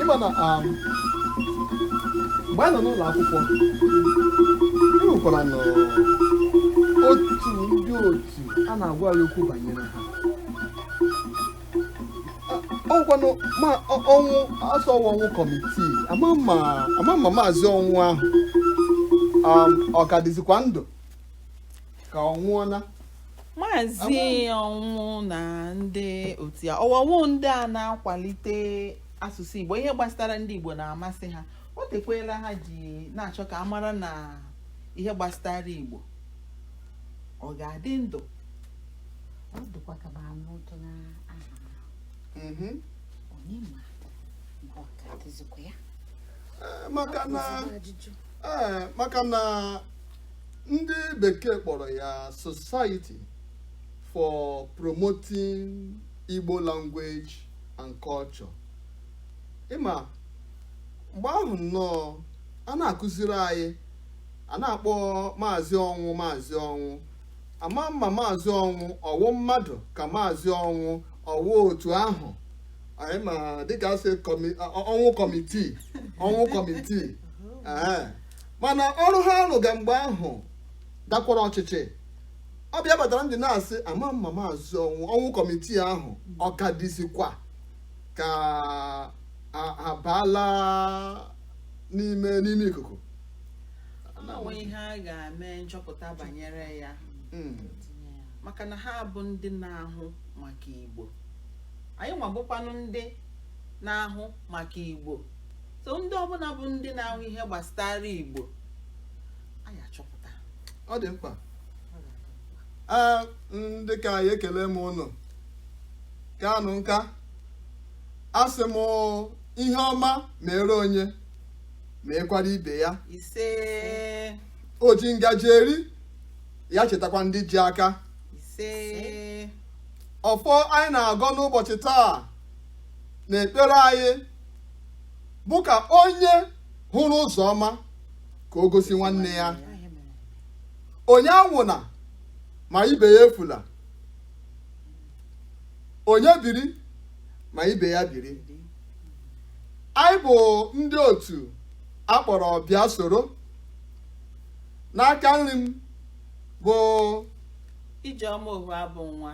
ịma na um, mgbe anyị nọ n'ụlọ akwụkwọ enwekwaranụ otu ndị otu a na-agwa anyị okwu banyere ha ọkwanụ ma ọ- ọnwụ asị ọwụ ọnwụ kọmitii ama m ma ama m ma maazị ọnwụ ahụ um, ọ ka dịzikwa ndụ ka ọ nwụọna maazị ọnwụ na ndị otu ya ọwụ ọwụ ndị a na-akwalite asụsụ igbo ihe gbasara ndị igbo na-amasị ha o tekwela ha ji na-achọ ka a mara na ihe gbasara igbo ọ ga-adị ndụ ọ dịkwa ka m anụtụọna aha Mhm. onye ma ma ọ ka dịzikwa ya Eh, maka na Ọ ezigbo ajụjụ eh, maka na ndị bekee kpọrọ ya society for promoting igbo language and culture ịma mgbe ahụ nnọọ a na-akụziri anyị a na-akpọ maazị ọnwụ maazị ọnwụ ama m ma maazị ọnwụ ọwụ mmadụ ka maazị ọnwụ ọwụ otu ahụ anyị ma dịka asị ọnwụ kọmitii ọnwụ kọmitii ee mana ọrụ ha rụga mgbe ahụ dakwara ọchịchị ọ bụ ya kpatara m ji na-asị ama m ma maazị ọnwụ ọnwụ kọmitii ahụ ọ ka dịzikwa ka ha abaala n'ime n'ime ikuku ma ọwụ ihe a ga-eme nchọpụta banyere ya Mm. maka na ha bụ ndị na-ahụ maka igbo anyị nwa bụkwanụ ndị na-ahụ maka igbo so ndị ọbụla bụ ndị na-ahụ ihe gbasara igbo anyị achọpụta ọ dị mkpa a ndị ka anyị ekele m ụnụ kaanụ nka asị m ihe ọma meere onye meekwara ibe ya ise o ji ngaji eri ya chetakwa ndị ji aka ise ọfọ anyị na-agọ n'ụbọchị taa na ekpere anyị bụ ka onye hụrụ ụzọ ọma ka o gosi nwanne ya onye anwụna ma ibe ya efula onye biri ma ibe ya biri anyị bụ ndị otu akpọrọ bịa soro n'aka nri m bụ Ijeọma Ohuabụnwa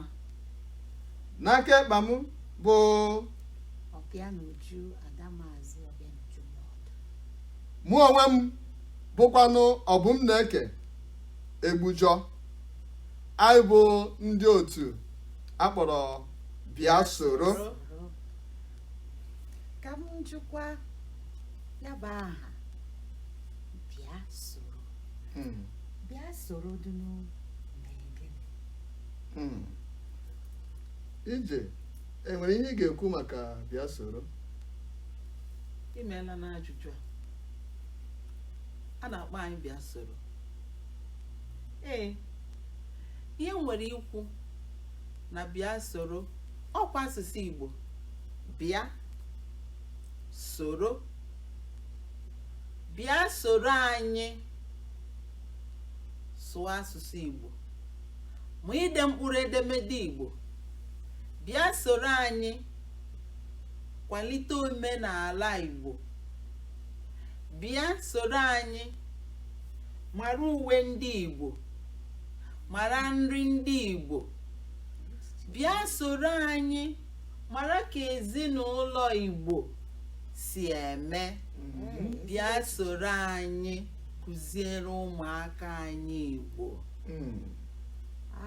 n'aka ekpa m bụ Ọbịanuju ada maazị Ọbịanuju mba ọdụ mụ onwe m bụkwanụ Ọbụmneke Egbujọ anyị bụ ndị otu akpọrọ bịa soro Soro. ka m jụkwa ya bụ aha bịa soro Mm. bịa soro dunu Hmm. ije enwere ihe ị ga-ekwu maka bịa soro imeela n'ajụjụ a a na-akpọ anyị bịa soro ee ihe m nwere ikwu na bịa soro ọkwa asụsụ igbo bịa soro bịa soro anyị sụọ asụsụ igbo ma ide mkpụrụ edemede Igbo bịa soro anyị kwalite omenala Igbo bịa soro anyị mara uwe ndị Igbo mara nri ndị Igbo bịa soro anyị mara ka ezinụlọ Igbo si eme bịa soro anyị kụziere ụmụaka anyị Igbo Mm,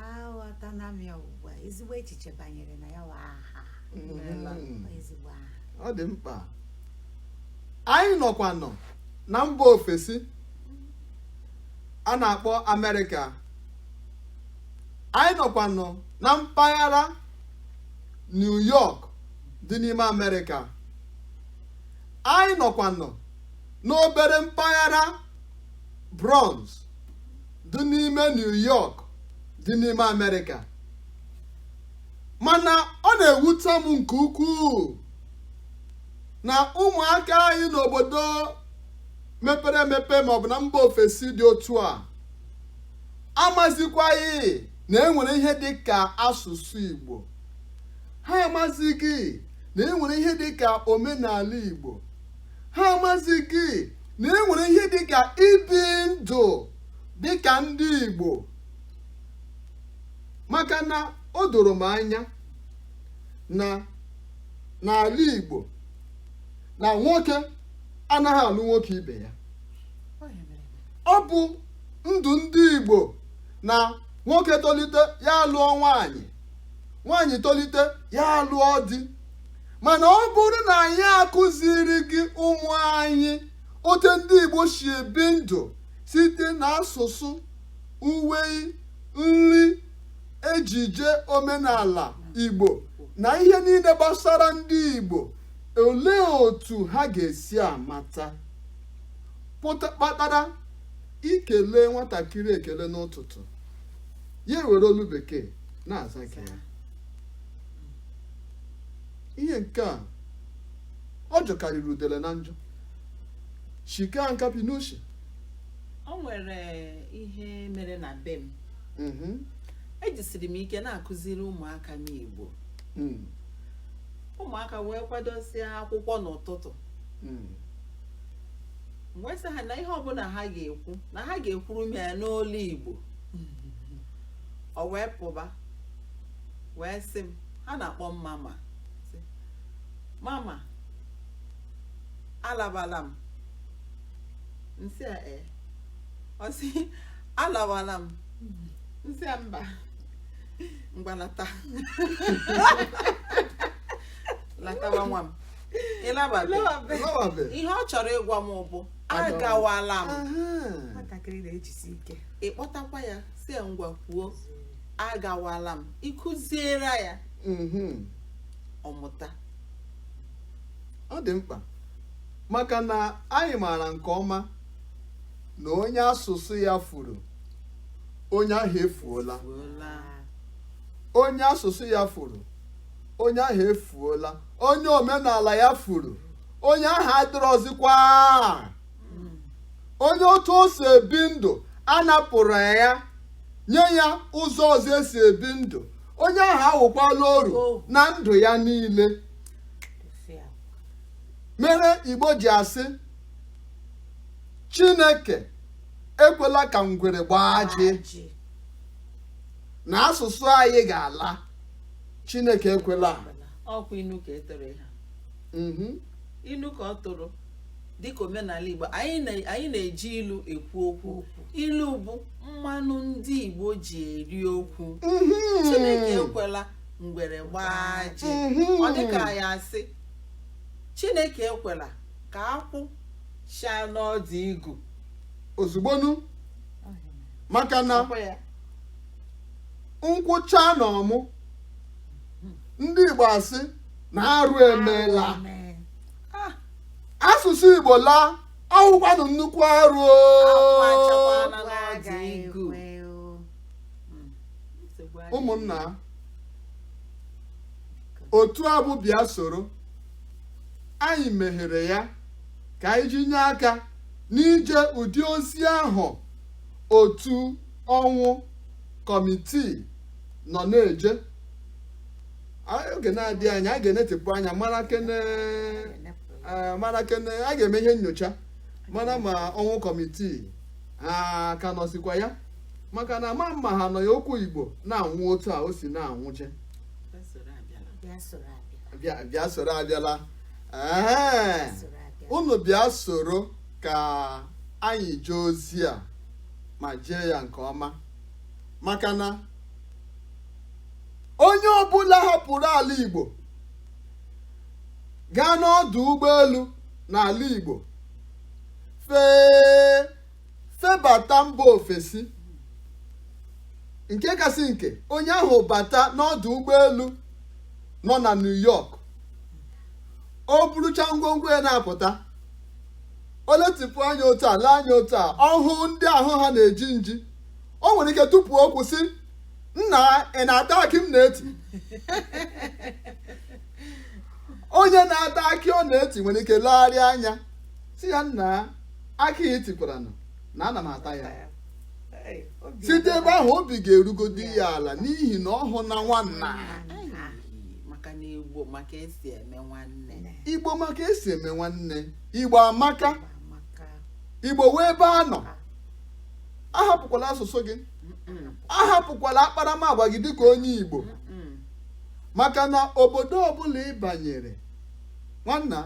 aghọtana m ya ugbu a ezigbo echiche banyere na ya wa aha Imeela. Mm. ezigbo aha ọ dị mkpa anyị nọkwanụ na mba ofesi a na-akpọ amerịka anyị nọkwanụ na mpaghara new york dị n'ime amerịka anyị nọkwanụ n'obere mpaghara bronx dị n'ime New York dị n'ime Amerịka mana ọ na-ewute m nke ukwuu na ụmụaka anyị n'obodo mepere emepe maọbụ na mba ofesi dị otu a amazikwaghị na enwere ihe dị ka asụsụ Igbo ha amazighị na enwere ihe dị ka omenala Igbo ha amazighị na e nwere ihe dịka ibi ndụ dịka ndị Igbo maka na o doro m anya na n'ala Igbo na nwoke anaghị alụ nwoke ibe ya ọ bụ ndụ ndị Igbo na nwoke tolite ya alụọ nwaanyị nwaanyị tolite ya alụọ di mana ọ bụrụ na anyị akụzirighị ụmụ anyị otu ndị Igbo si ebi ndụ site na asụsụ uwe nri ejije omenala Igbo na ihe niile gbasara ndị Igbo olee otu ha ga-esi amata kpatara i kele nwatakịrị ekele n'ụtụtụ ya ewere olu bekee na-aza gị ya ihe nke a ọ jọkarịrị udele na njọ shikaa nkapi n'ushi o nwere ihe mere na be m Mhm. ejisiri m ike na-akụziri ụmụaka m igbo Mm. ụmụaka wee kwadosịa akwụkwọ n'ụtụtụ Mm. m wee sị ha na ihe ọbụla ha ga-ekwu na ha ga-ekwuru m ya n'olu igbo o wee pụba wee sị m ha na-akpọ m mama sị mama alabala m m sị ya ee ọ sị alabala m m sị ya mba ngwa lata latawa nwa m ị lababe Lawabe. Lawabe. ihe ọ chọrọ ịgwa m bụ Agawala. agawala m Aha. nwatakịrị na-ejisi ike ị kpọtakwa ya sị ya ngwa kwuo agawala m ị kụziere ya mhm. ọ mụta ọ dị mkpa maka na anyị maara nke ọma na onye asụsụ ya furu onye ahụ efuola onye asụsụ ya furu onye ahụ efuola onye omenala ya furu onye ahụ adịrọzikwa onye otu o si ebi ndụ a napụrụ ya nye ya ụzọ ọzọ e si ebi ndụ onye ahụ awụkwala oru na ndụ ya niile mere igbo ji asị chineke ekwela ka ngwere gbaa ajị na asụsụ anyị ga-ala chineke ekwela ọkwa inu ka ị tụrụ ha mhm. inu ka ọ tụrụ dịka omenala Igbo anyị na- anyị na-eji ilu ekwu okwu ilu bụ mmanụ ndị Igbo ji eri okwu Chineke ekwela ngwere gbaa ajị Mhm. ọ dịka anyị sị Chineke ekwela ka akwụ chaa n'ọdụ igu ozugbonu maka na Ọkwa ya? nkwụ chaa na ọmụ ndị igbo asị na arụ emeela ah. asụsụ igbo laa ọ wụkwanụ nnukwu arụ ụmụnna otu a bụ bịa soro anyị meghere ya ka anyị ji nye aka n'ije ụdị ozi ahụ otu ọnwụ kọmitii nọ na-eje A- oge na-adị anya a ga-enetịpụ anya mara kene eh, mara kene a ga-eme ihe nyocha mara ma ọnwụ kọmitii ha ka nọsikwa ya maka na ma mma ha nọ ya okwu igbo na-anwụ otu a o si na-anwụje bịa soro abịa bịa bịa soro abịala Ee. soro abịa unu bịa soro ka anyị jee ozi a ma jee ya nke ọma maka na onye ọbụla hapụrụ ala Igbo gaa n'ọdụ ụgbọelu n'ala Igbo fee febata mba ofesi nke kasị nke onye ahụ bata n'ọdụ ụgbọelu nọ na New York o burucha ngwongwo ya na-apụta o letịpụ anya otu a lee anya otu a ọ hụ ndị ahụ ha na-eji nji o nwere ike tupu okwu sị nna ị na-ata akị m na-eti onye na-ata akị ọ na-eti nwere ike legharịa anya si ya nna akị ahụ i tikwaranụ na ana m ata ya Hey, site ebe ahụ obi ga-erugodi ya ala n'ihi na ọ hụna nwanna maka na igbo ma ka e si eme nwanne igbo ma ka e si eme nwanne igbo amaka maka igbo nwee ebe a nọ ahapụkwala asụsụ gị ahapụkwala akparamagwa gị dịka onye Igbo maka na obodo ọbụla ị banyere nwanna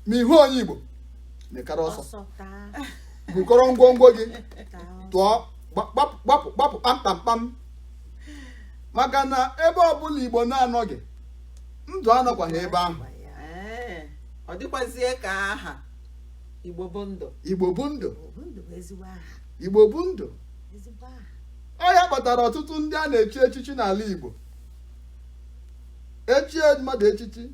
ma ị hụ onye Igbo na-ekara ọsọ bukọrọ ngwongwo gị tụọ gbapụ gbapụ gbapụ kpamkpamkpam maka na ebe ọbụla Igbo na-anọghị ndụ anọkwaghị ebe ahụ ọ dịkwazie ka aha Igbo bụ ndụ Igbo bụ ndụ igbo bụ ndụ ọ ya kpatara ọtụtụ ndị a na-echi echichi n'ala igbo e chie mmadụ echichi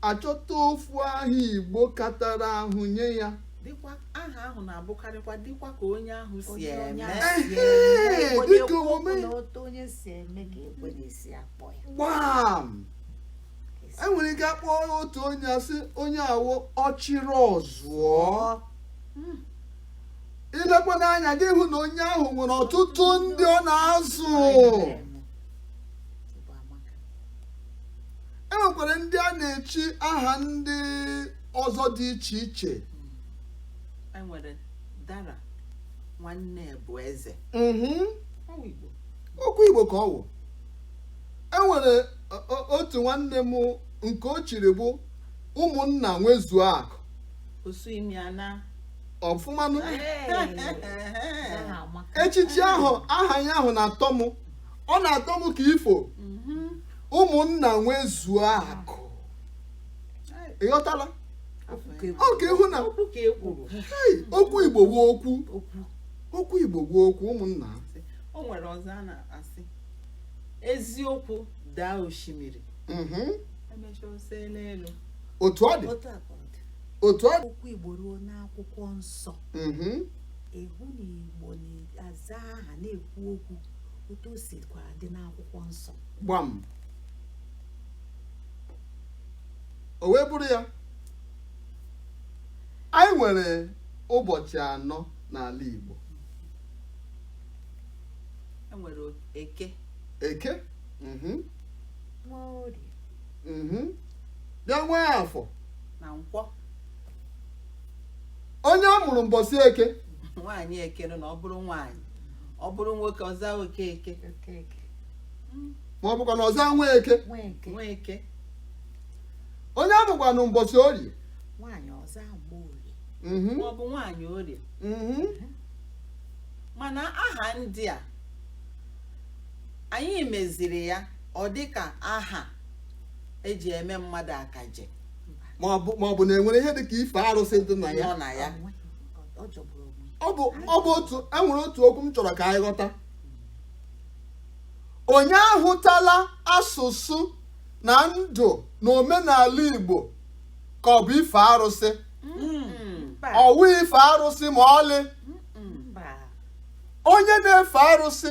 a chọta ofu aha igbo katara ahụ nye ya dịkwa aha ahụ na-abụkarịkwa dịkwa ka onye ahụ si eme dịka omume ya gbam e nwere ike a kpọọ otu onye a sị onye a wụ ọchịrị ọzụọ hmm. i lekwa n'anya gị hụ na onye ahụ nwere ọtụtụ ndị ọ na-azụ e nwekwara ndị a na-echi aha ndị ọzọ dị iche iche anyị nwere dara nwanne bụ eze Mhm. Ọ wụ Igbo. okwu igbo ka ọ wụ e nwere o- o- otu nwanne m nke o chiri bụ ụmụnna nwezuo akụ osu imi a na ọfụma nụ echichi ahụ aha ya ahụ na-atọ m ọ na-atọ m ka ifo ụmụnna nwezuo akụ ịghọtala ọ kwa ị hụ na Hai, okwu igbo wụ okwu okwu igbo wụ okwu ụmụnna o nwere ọzọ a na-asị eziokwu daa osimiri Mhm. e mechaa o see n'elu otu ọ dị otu akọ otu ọ okwu igbo ruo n'akwụkwọ nsọ mhm. ị hụ na igbo na-aza aha na-ekwu okwu otu o sikwara dị n'akwụkwọ nsọ gbam o wee bụrụ ya anyị nwere ụbọchị anọ n'ala igbo e nwere eke eke mhm, nwee orie mhm. bịa nwee afọ na nkwọ onye a mụrụ mbọsị eke nwaanyị eke na ọ bụrụ nwaanyị ọ bụrụ nwoke ọ zaa okeke Okeke. ma ọ bụkwanụ ọ zaa nwa eke Nweke. nwa eke onye a mụkwanụ mbọsị orie Nwaanyị ọ zaa Mgborie. Mhm, ma ọ bụ nwaanyị orie mhm. mana aha ndị a anyị meziri ya ọ dị ka aha e ji eme mmadụ akaje ma ọ bụ ma ọ bụ na e nwere ihe dịka ife arụsị dị na ya nọ na ya Ọ jọgburu onwe ya. ọ bụ ọ bụ otu e nwere otu okwu m chọrọ ka anyị ghọta onye ahụtala asụsụ na ndụ na omenala igbo ka ọ bụ ife arụsị Mba, ọ wụghị ife arụsị ma ọlị mba. onye na-efe arụsị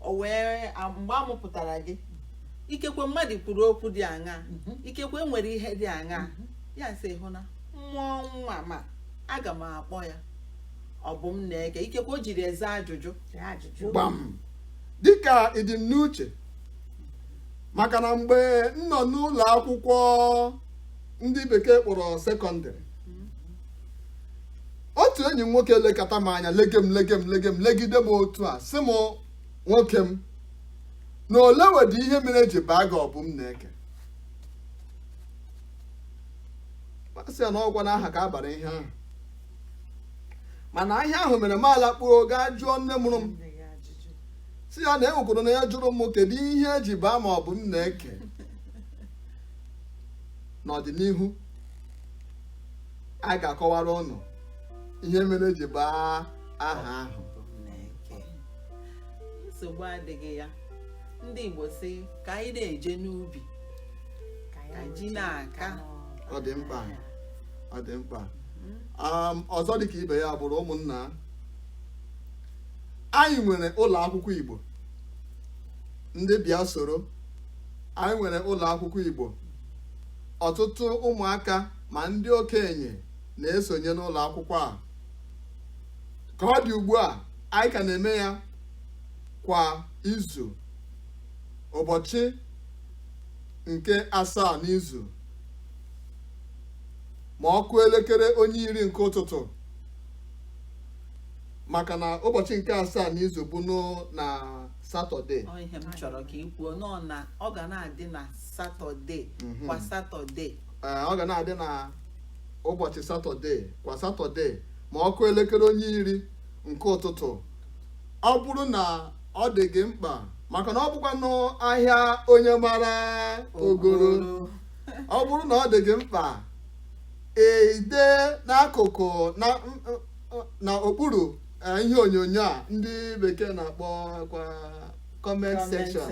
o wee a- mgbe a mụpụtara gị ikekwe mmadụ kwuru okwu dị aṅa Mhm. ikekwe e nwere ihe dị aṅa ya sị ị hụ na m mụọ nwa m a aga m akpọ ya ọ bụ m na-eke ikekwe o jiri eze ajụjụ Jee ajụjụ gbam dịka ị dị m n'uche maka na mgbe m nọ n'ụlọ akwụkwọ ndị bekee kpọrọ sekọndịrị otu enyi m nwoke lekata m anya lege m lege m lege m legide m otu a sị m nwoke m na oleedị ihe mere eji baa gị Ọbụmnaeke mụ asị ya na ọgwa na aha ka a bara ihe ahụ mana ihe ahụ mere mụ alakpuru gaa jụọ nne mụrụ m sị ya na e nwekwara onye jụrụ m kedu ihe eji baa m Ọbụmnaeke n'ọdịnihu a ga-akọwara ụnụ ihe mere eji baa aha ahụ nsogbu adịghị ya ndị Igbo sị ka anyị na-eje n'ubi ka ji na-aka ọ dị mkpa ọ dị mkpa um, ọzọ dị ka ibe ya bụrụ ụmụnna anyị nwere ụlọ akwụkwọ Igbo ndị bịa soro anyị nwere ụlọ akwụkwọ Igbo ọtụtụ ụmụaka ma ndị okenye na-esonye n'ụlọ akwụkwọ a ka ọ dị ugbu a anyị ka na-eme ya kwa izu ụbọchị nke asaa n'izu ma ọ kụọ elekere anya iri nke ụtụtụ maka na ụbọchị nke asaa n'izu bụnụ na satọde Ọ ihe m chọrọ ka ị kwuonụ na ọ ga na-adị na satọde Mhm. kwa satọde ee ọ ga na-adị na ụbọchị satọde kwa satọde ma ọ kụọ elekere anya iri nke ụtụtụ ọ bụrụ na ọ dị gị mkpa maka na ọ bụkwanụ ahịa onye mara o goro ọ bụrụ na ọ dị gị mkpa i dee n'akụkụ na m- m- na okpuru eh, ihe onyonyo a ndị bekee na-akpọ kwa comment section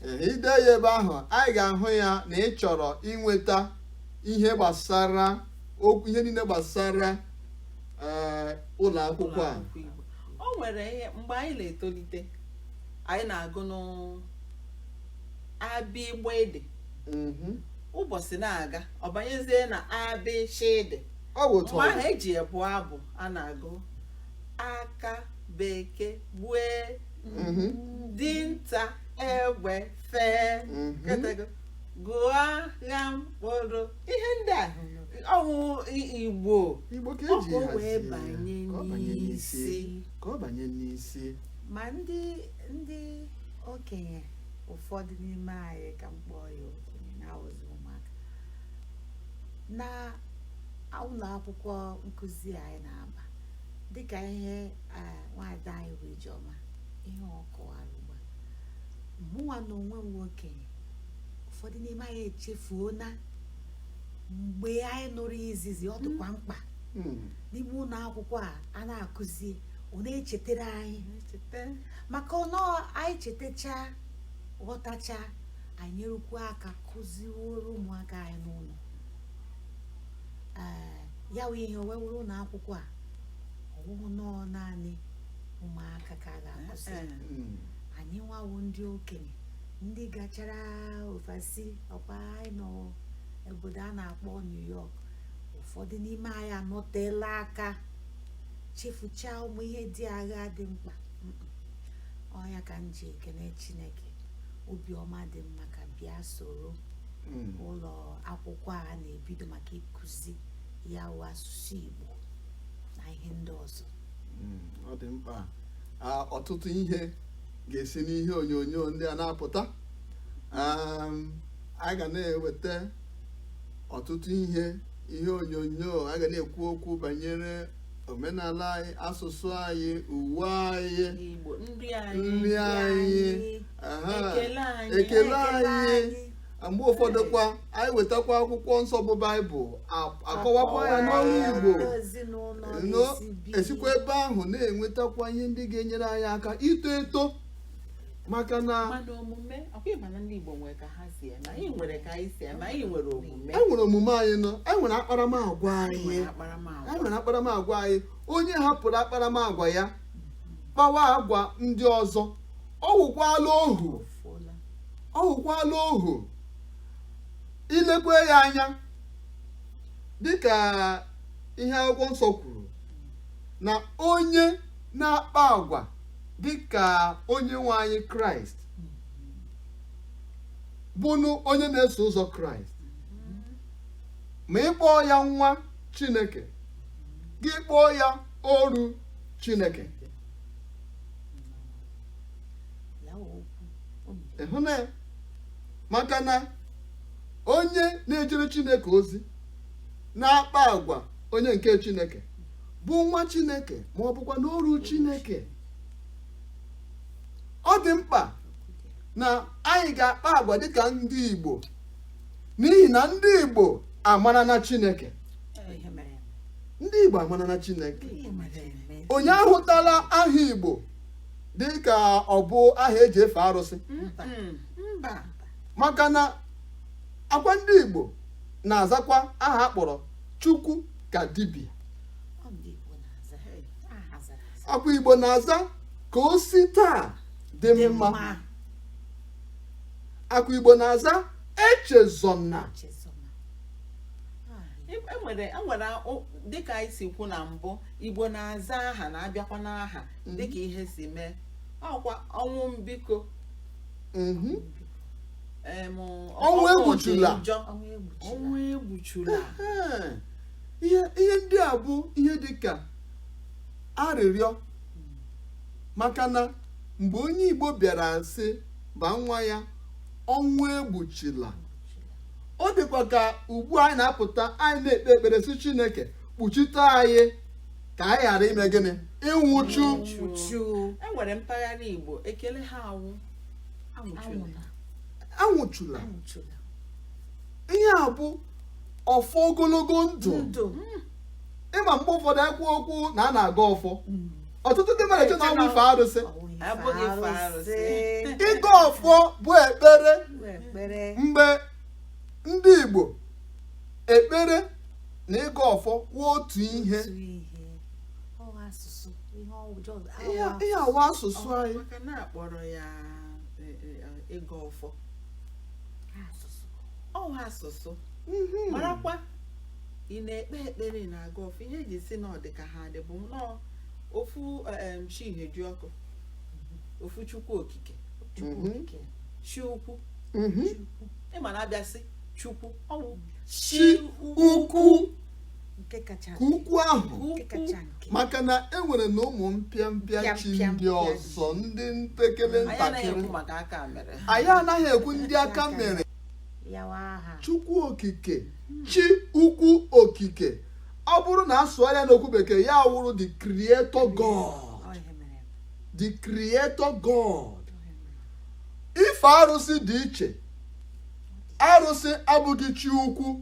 Ee, i dee ya ebe ahụ anyị ga-ahụ ya na ị chọrọ inweta ihe gbasara okwu ihe niile gbasara ee, ụlọ akwụkwọ a Ụlọakwụkwọ Igbo. o nwere ihe mgbe anyị na-etolite anyị na-agụnụ A B GB D Mhm. ụbọchị na-aga ọ banyezie na A B CH D ọ bụ otu mgbe ọ ahụ dị. eji ebu abụ a na-agụ aka bekee gbue Mhm. dinta egbe fee Mhm. I chetago. gụọ gha mkpụrụ ihe ndị a ọ wụ i- igbo igbo ka e ji ka o wee hazie banye ya, ka ọ banye n'isi n'isi ka ọ banye n'isi ma ndị ndị okenye ụfọdụ n'ime anyị ka m kpọọ ya okenye na-awụzi ụmụaka na ụlọ akwụkwọ nkụzi anyị na-aba dịka ihe nwaada anyị bụ ijeọma ihe ọ kọwara ugbu a mụnwa na onwe m okenye ụfọdụ n'ime anyị echefuona mgbe anyị nụrụ ya izizi ọ dịkwa mkpa n'ime ụlọ akwụkwọ a a na-akụzi ọ na-echetara anyị maka ọnụ anyị chetacha ghọtacha anyị nyerukwu aka kụziworo ụmụaka anyị n'ụlọ ee ya wụ ihe wee wuru ụlọ akwụkwọ a ọ wụghị nọọ naanị ụmụaka ka a ga-akụzi Eh, Mm. anyị nwa wụ ndị okenye ndị gachara ofesi ọkwa anyị nọ obodo a na-akpọ New York ụfọdụ n'ime anyị anọtela aka chefuchaa ụmụ ihe dị agha dị mkpa Mm-mm. ọ ya ka m ji ekene Chineke obiọma dị m maka bịa soro Mm. ụlọ akwụkwọ a na-ebido maka ịkụzi ya wụ asụsụ Igbo na ihe ndị ọzọ Mm, ọ dị mkpa Ah, ọtụtụ ihe ga-esi n'ihe onyonyo ndị a na-apụta Um, a ga na-eweta ọtụtụ ihe ihe onyonyo a ga na-ekwu okwu banyere omenala anyị asụsụ anyị uwe anyị igbo nri anyị nri anyị aha, ekele anyị ekele anyị mgbe ụfọdụ kwa anyị wetakwa akwụkwọ nsọ bụ baịbụl a- akọwakwa ya n'ọnụ igbo ezinụlọ Nọ- na-esi bi. esikwa ebe ahụ na-enwetakwa ihe ndị ga-enyere anyị aka ito eto maka na mana omume ọkwa ị ma na ndị Igbo nwere ka ha si eme anyị nwere ka anyị si eme anyị nwere omume e nwere omume anyị nọ e nwere akparamagwa anyị anyị nwere akparamagwa anyị nwere akparamagwa anyị onye hapụrụ akparamagwa ya kpawa agwa ndị ọzọ ọ wụkwala ohu o fuola ọ wụkwala ohu i lekwa ya anya dịka ihe akwụkwọ nsọ kwuru na onye na-akpa agwa dị ka onye nwe anyị kraịst bụnụ onye na-eso ụzọ kraịst ma ị kpọọ ya nwa chineke gị kpọọ ya oru chineke ị hụna ya maka na onye na-ejere chineke ozi na-akpa agwa onye nke chineke bụ nwa chineke ma ọ bụkwanụ oru chineke ọ dị mkpa na anyị ga-akpa agwa dịka ndị igbo n'ihi na ndị igbo amarana chineke Ihe mere eme. ndị igbo amarana chineke Ihe mere eme. onye ahụtala aha igbo dịka ọ bụ aha e ji efe arụsị Mm-mm. Mba. maka na ọkwa ndị igbo na-azakwa aha a kpọrọ chukwu ka dibia Ọ ndị Igbo na-aza. Hey, aha zara aza. akwa igbo na-aza ka o si taa dị Dị mma mma. akwa igbo na-aza echezọna Chezọna. Ah, E e nwere e nwere o- dịka anyị si kwu na mbụ igbo na-aza aha na-abịakwa n'aha dịka ihe si mee ọkwa ọnwụ mbiko Mhm. em, Ọnwụ ọnwụ dị egbuchula. njọ. ọnwụ egbuchila. ọnwụ egbuchula Ehe. ihe ihe ndị a bụ ihe dị ka arịrịọ maka na mgbe onye igbo bịara sị ba nwa ya ọnwụ egbuchila ọ dịkwa ka ugbu anyị na-apụta anyị na-ekpe ekpere sị chineke kpuchite anyị ka anyị ghara ime gịnị ịnwụchu Uchu. e nwere mpaghara igbo ekele ha wụ anwụchula anwụchula Anwụchula. ihe a bụ ọfọ ogologo ndụ ndụ ị ma mgbe ụfọdụ e kwuo okwu na a na-agọ ọfọ ọtụtụ ndị mmadụ eche na ọ bụ ife arụsị Abụghị ife arụsị. ịgọ ọfọ bụ ekpere ekpere na be ndị Igbo ekpere na ịgọ ọfọ wụ otu ihe otu ihe ọ wụ asụsụ ihe ọjọọ ihe a wụ ihe a wụ asụsụ anyị Maka na a kpọrọ ya e, e, e, ịgọ ọfọ. asụsụ ọ wụ asụsụ Mhm. marakwa ị na-ekpe ekpere ị na-agọ ọfọ ihe e ji sị na ọ dị ka ha dị bụ na ọ ofu em, chi ihe ju ọkụ ofu chukwu okike Mhm. chi ukwu Mhm. ị ma na a bịa sị chukwu ọ wụ Chi ukwu. nke kacha ka ukwu ahụ nke kacha nke maka na e nwere na ụmụ mpịampịa chi Mpịampịa ndị mpịa. ọzọ ndị mpekele anyị anaghị ntakịrị ekwu maka aka mere anyị anaghị ekwu ndị aka mere ya wụ aha chukwu okike chi ukwu okike ọ bụrụ na a sụọ ya n'okwu bekee ya wụrụ the creator Ọ god ihe mere eme. the creator god ife arụsị dị iche arụsị abụghị chi ukwu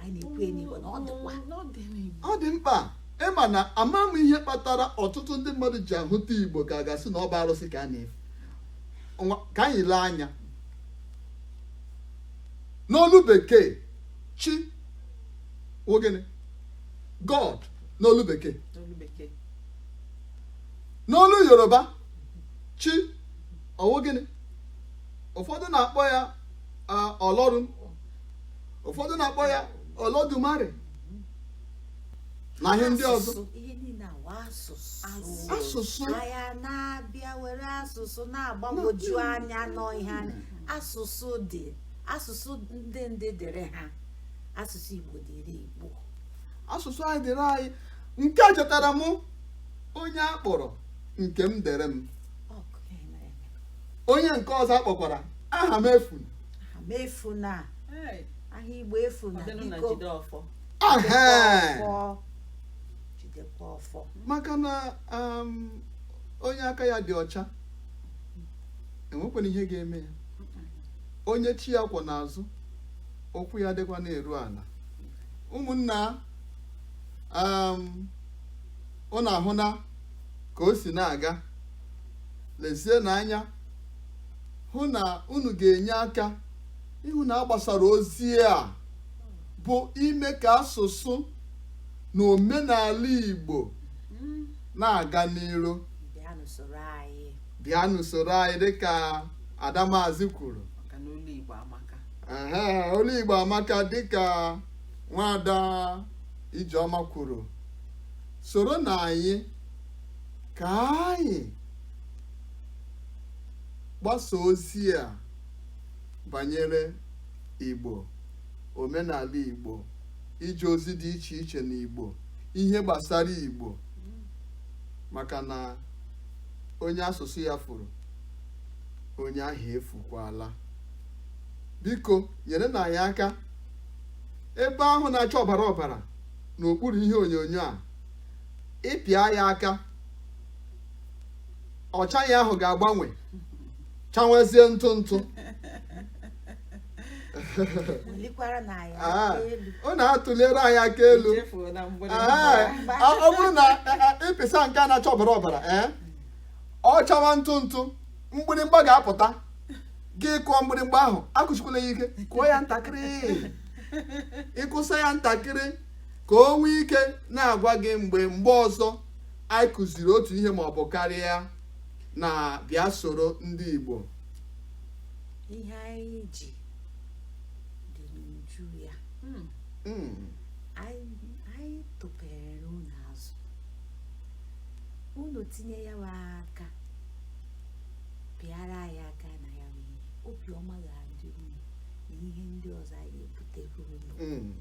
anyị na-ekwu ya n'Igbo na ọ dịkwa ọ dị mkpa ị ma na ama m ihe kpatara ọtụtụ ndị mmadụ ji ahụta Igbo ka a ga-asị na ọ bụ arụsị ka a na-efe ka anyị lee anya n'olu bekee chi wụ gịnị god n'olu bekee n'olu yoruba chi ọ wụ gịnị ụfọdụ na-akpọ ya Ọlọrun ụfọdụ na-akpọ ya olodumare na ihe ndị ọzọ Asụsụ, ihe niile a bụ asụsụ asụsụ anyị na-abịa were asụsụ na-agbagwoju anya n'ihi ya asụsụ dị asụsụ ndị ndị dịrị ha asụsụ igbo dịrị igbo asụsụ anyị dịrị anyị nke a chetara m onye a kpọrọ Nkemdịrịm Ọ bụ ihe mere eme. onye nke ọzọ a kpọkwara aha m efu aha m efuna Hey, aha igbo efuna ọbịanụ na biko jide ọfọ Ahee! ọfọ jidekwa ọfọ maka na um, onye aka ya dị ọcha enwekwana ihe ga-eme ya onye chi ya kwọ n'azụ ụkwụ ya dịkwa na-eru ala ụmụnna um, unu ahụna ka o si na-aga lezienụ anya hụ na unu ga-enye aka ịhụ na a gbasara ozi a bụ ime ka asụsụ na omenala Igbo na-aga n'iru bịanụ soro anyị bịanụ soro anyị dịka Adamazi kwuru maka na olu Igbo amaka Ehe, olu Igbo amaka dịka nwada Ijeọma kwuru soronụ anyị ka anyị gbasa ozi a banyere Igbo omenala Igbo ije ozi dị iche iche n'Igbo ihe gbasara Igbo maka na onye asụsụ ya furu onye ahụ efukwala biko nyerenụ anyị aka ebe ahụ na-acha ọbara ọbara n'okpuru ihe onyonyo a ị pịa ya aka ọcha ya ahụ ga-agbanwe chawazie ntụ ntụ welikwaranụ anyị Ah, aka elu unu atụliere anyị aka elu Echefuna mgbere Ee, mgbere. ọ ọ bụrụ na e- e- ị pịsa nke a na-acha ọbara ọbara ee ọ chawa ntụ ntụ mgbịrịmgba ga-apụta gị kụọ mgbịrịmgba ahụ akụchikwala ya ike kụọ ya ntakịrị ị kụsa ya ntakịrị ka o nwee ike na-agwa gị mgbe mgbe ọzọ anyị kụziri otu ihe ma ọ bụ karịa na bịa soro ndị Igbo ihe anyị ji dị n'uju ya hmm. Hmm. anyị tụpere unu azụ unu tinye ya aka pịara anyị aka na ya ihe obiọma ga-adị unu na ihe ndị ọzọ anyị ebutere unu hmm.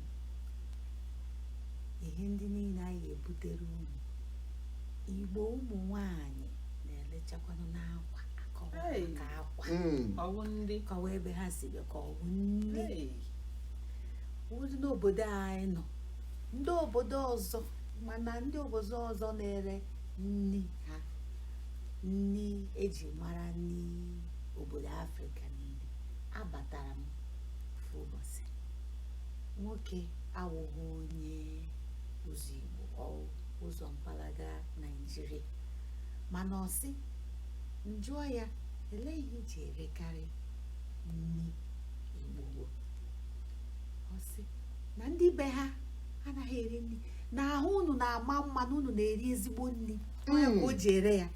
ihe ndị niile anyị ga-ebutere ụmụ igbo ụmụ nwanyị na-elechakwanụ n'akwa akọwa Hey. maka akwa Mm. ọwụ ndị kọwa ebe ha si bịa ka ọ bụ nri Hey. ụdị n'obodo anyị nọ ndị obodo ọzọ mana ndị obodo ọzọ na-ere nri ha nri eji mara nri obodo afrịka niile abatara m ofu ụbọchị nwoke awụghị onye ụzọ Igbo ọwụ ụzọ mpalaga Naịjirịa mana ọ sị m jụọ ya elee ihe i ji erekarị nri Igbo ọ sị na ndị be ha anaghị eri nri na ahụ unu na-ama mma na unu na-eri ezigbo nri onye ka o ji ere ya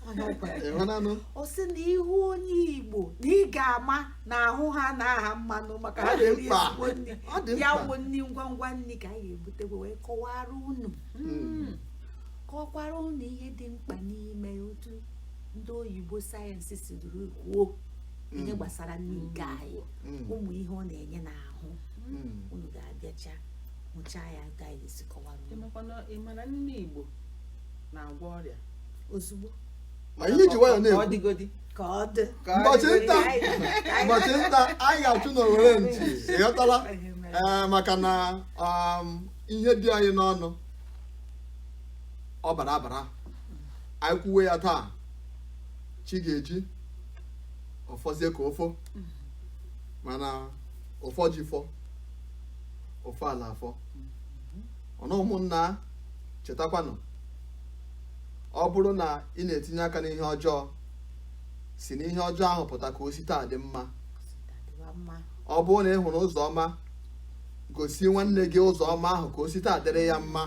onye ọ gwara ya. ịhụnanụ ọ sị na ị hụ onye Igbo na ị ga-ama na ahụ ha na-aha mmanụ maka Ọ ha dị na-eri mkpa. ezigbo nri Ọ dị ya mkpa. wụ nri ngwa ngwa nri ka anyị ga-ebutekwa wee kọwara unu kọwakwara unu ihe dị mkpa n'ime otu ndị oyibo sayensị si duru kwuo ihe gbasara nri nke anyị Mm. ụmụ ihe ọ na-enye n'ahụ Mm. unu ga-abịacha hụcha ya ka anyị ga-esi kọwara unu ị makwa na ị mara nri igbo na-agwọ ọrịa ozugbo ma ihe i ji nwayọọ na-ekwu ọ dịgodi ka ọ dị ụbọchị nta ụbọchị nta anyị ga-achụ n'owere nchi ị ghọtala ee maka na um, ihe dị anyị n'ọnụ ọ bara abara anyị kwuwe ya taa chi ga-eji o fozie ka o fo mana ụfọ ji fọ ụfọ ala afọ ọnụ ụmụnna chetakwanụ ọ bụrụ na ị na-etinye aka n'ihe ọjọọ si n'ihe ọjọọ ahụ pụta ka o si taa dị mma ọ bụrụ na ị hụrụ ụzọ ọma gosi nwanne gị ụzọ ọma ahụ ka o si taa dịrị ya mma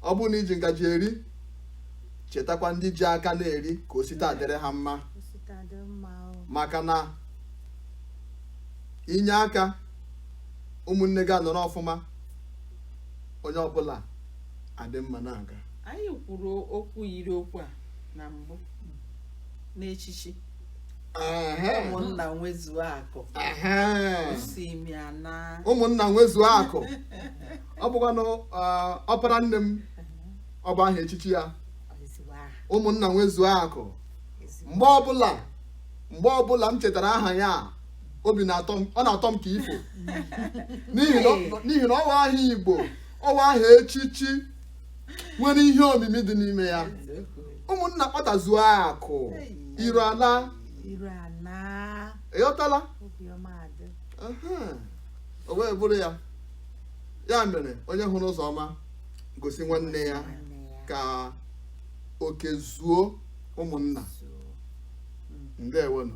ọ bụrụ na i ji ngaji eri chetakwa ndị ji aka na-eri ka o si taa dịrị ha mma maka na i nye aka ụmụnne gị anọrọ ọfụma onye ọbụla adị mma na-aga anyị kwuru okwu yiri okwu a na mbụ n'echichi Ehe, ụmụnna nwezuo akụ ehe. si imi ana ụmụnna nwezuo akụ ọ bụkwanụ ah, ọpara nne m ọ bụ aha echichi ya ezigbo aha ụmụnna nwezuo akụ ezigbo mgbe ọbụla mgbe ọbụla m chetara aha ya a, obi na-atọ m ọ na-atọ m ka ifo n'ihi na ọ- n'ihi na ọ bụ aha igbo ọ wụ aha echichi nwere ihe omimi dị n'ime ya ụmụnna kpatazuo akụ iro ala iro ana ị ghọtala obiọma adị Aha. o wee bụrụ ya ya mere onye hụrụ ụzọ ọma gosi nwanne ya nwanne ya ka oke zuo ụmụnna so ndewonụ